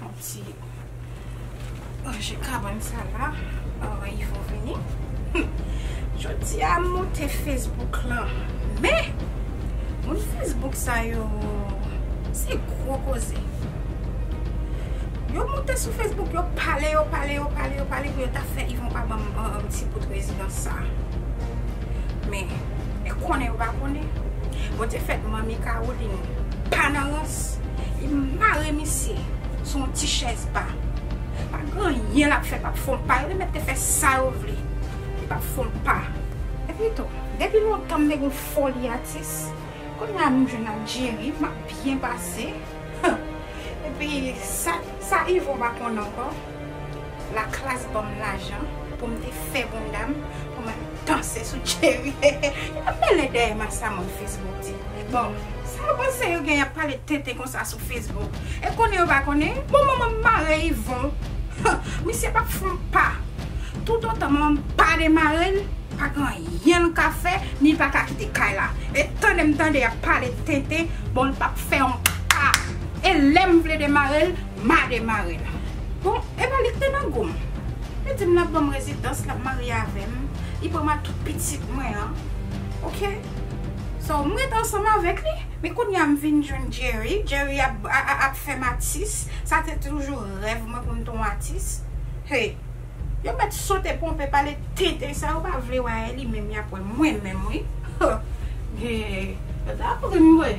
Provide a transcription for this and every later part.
Yon ti ranje kabann sa la avan Yvo vini. Jodi a m monte Facebook lan men moun Facebook sa yo se gwo koze. Yo monte sou Facebook yo pale yo pale yo pale yo pale pou yo ta fè Yvon pa banm yon ti bout rezidans sa. Men, konnen yo pa konnen. Bon te fèt manmi Caroline. pa nan rans, li mare misye sou yon ti chèz ba. Pa gen anyen l ap fè k ap fon pa, yo te mèt te fè sa yo vle, li p ap fon pa. Epitou, depi lontan m te gen yon foli atis, kounye a m jwenn ak Jerry, m ap byen pase. Epi, sa Yvon pa konn ankò? La klass banm lajan poum te fè bondam pou mal danse sou Jerry hehe yap mele dèyè massa moun Facebook di bon sa yo panse yo gen yap pale tenten konsa sou Facebook e konnen yo pa konnen bon manmanm mare Yvon huh misye pap fon pa tout otan manmanm pa demarel pa gen anyen l ka fè ni pa ka kite kay la e tandem tande yap pale tenten bon l pap fè yon pa e lèm vle demarel. Mare mare l. Bon, epa li k te nan gou m. Li di m l ap ban m rezidans, l ap marye avè m, li pran ma tout pitit mwen an. Ok. So, m ret ansanm avèk li. Men kounye a m vin jwenn Jerry. Jerry ap fè m atis. Sa te toujou rèv mwen pou m te yon atis. Hey! Yo met sote ponpe pale tenten sa yo pa vle wè aeli menm yap wè mwen menm wi hoo ata ap rim vre.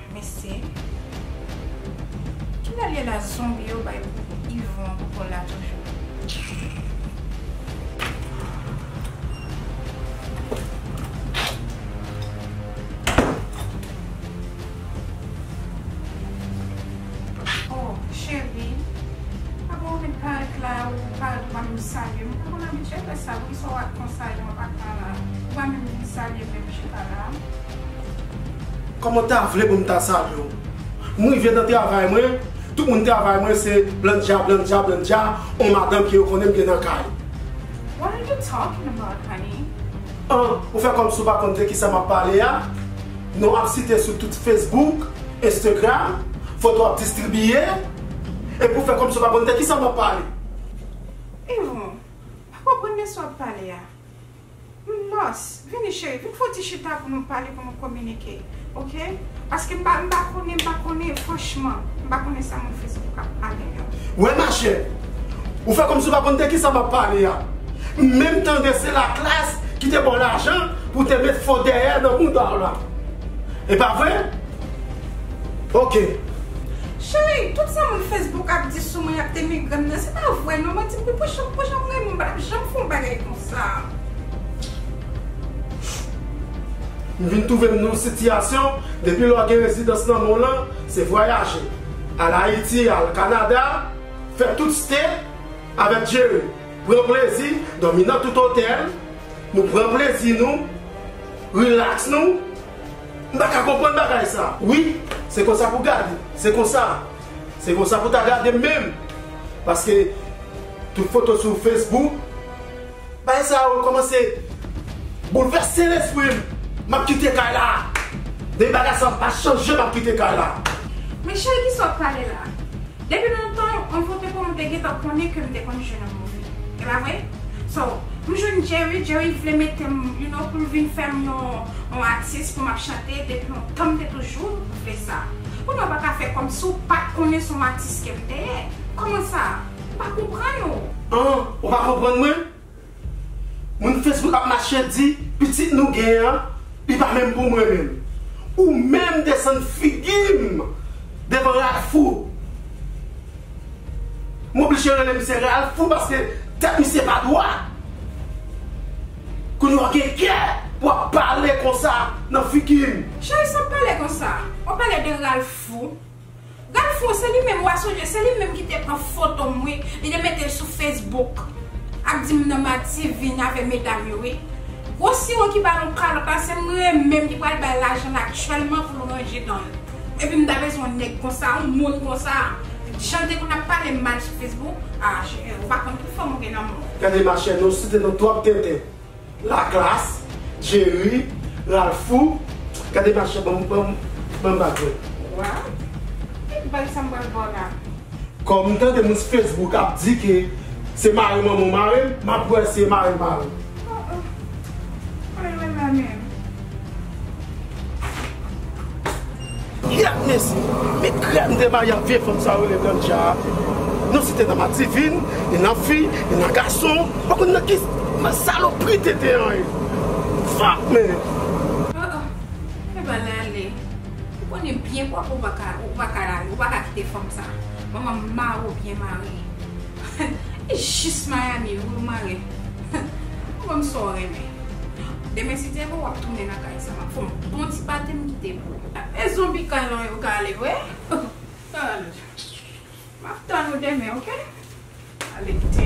Mesi. Kilè liye la zonbi yo bay Yvon kola toujou. Oh cheri a bon ou met parèt la ou pa dwa menm salye m poko m abitye fè sa poukisa w ak konsa Yvon pa ka la ou pa menm vin salye m lèm chita la. Koman ta vle pou m ta salye w? M rive nan travay mwen, tout moun travay mwen se blandja blandja blandja on madanm ke yo konnen m gen nan kay. What are you talking about honey? An, ou fè kòmsi w pa konn de kisa m ap pale a? Non ap site sou tout Facebook, Instagram, foto ap distribiye, epi ou fè kòmsi w pa konn de kisa m ap pale? Evon, pa konprann de sa w ap pale a? Mars, vini cheri, vin fon ti chita pou nou pale, pou nou kominike. Ok? Paske m pa, m pa konnen, m pa konnen, franchman, m pa konnen sa moun Facebook yo ap pale m yo. Wè machè, ou fè kòmsi ou pa konn de ki sa m ap pale a. M menm tande se Laclasse ki te ba w lajan pou w te met fo dèyè nan mouda w la. E pa vre? Ok. Cheri, tout sa moun Facebook ap di sou mwen, y ap denigre m nan, se pa vre non. Mwen di m pou, pou jan, pou jan m renmen w, m pa t ap janm fè yon bagay konsa. sa a. Nou vin twouve n nou sitiyasyon, depi lè w gen rezidans nan mou lan, se vwayaje. Al Ayiti, al Kanada, fè tout ste avèk Jerry. Pran plezi, dòmi nan tout otèl, nou pran plezi nou, rilaks nou. M pa ka konprann bagay sa. Wi, se konsa pou gade, se konsa. Se konsa pou ta gadem menm paske tout foto sou Facebook bagay sa yo komanse boulvèse lesprim map kite kay la men bagay sa yo pa chanje map kite kay la. Men cheri kisa wap pale la. Depi lontan on foto pa w m te gentan konnen ke m te konn jwenn on moun. E pa vre? So, m jwenn Jerry, Jerry vle mete m you know pou l vin fè m yon atis pou m ap chante depi lontan m te toujou fè sa. Ou menm ou pa ka fè kòmsi ou pat konnen son atis kèm t dèyè. Kòman sa? M pa konprann ou. An, ou pa konprann mwen? Moun Facebook ap mache di pitit nou gen an li pa menm pou mwen menm. Ou menm desann figi m devan Ralphou. M oblije rele misye Ralphou paske tèt misye pa dwat. Kounya w gen kè pou ap pale konsa nan figi m. Chay sa pale konsa. Wap pale de Ralph fou. Ralph fou se li menm wa sonje se li menm ki te pran foto m wi li te mete l sou Facebook ap di m nan mati vin avè medam yo wi. Gwo siwo ki ba l yon kalòt la se m menm ki pral bay lajan l aktyèlman pou l ranje dan l. Epi m ta bezwen yon nèg konsa, yon moun konsa. Jan depi nap pale mal sou Facebook, ah cheri ou pa konn tout fanm ou gen nan menw. Gade machè nou site nou twòp tenten la klass, Jerry, Ralphou gade machè banm banm bak mwen. Waw ki bgy sa m pral baw la. Kòm m tande moun sou Facebook ap di ke se mari manman w marem map wè se mari mari w. Oh oh. Mwen renmen la menm. Yap mesi! Men krèm demayi ak vye fanm sa yo rele Blanja a Nou site nan madivin, ni nan fi, ni nan gason Pa konn nan ki salopri tenten an ye Fuck man! Oh oh Fè bal la ale Ou konnen byen pwòp ou pa ka ou pa ka ou pa ka kite fanm sa Manman mare w byen mare Humm li jis Miami wi ou mare Humm wem sa w renmen. Demen si Dye vle wap tounen nan kay sa map fon bon ti pate m kite pou ou. E zonbi kay lan yo ka ale vre? Map tann ou demen ok. Ale kite.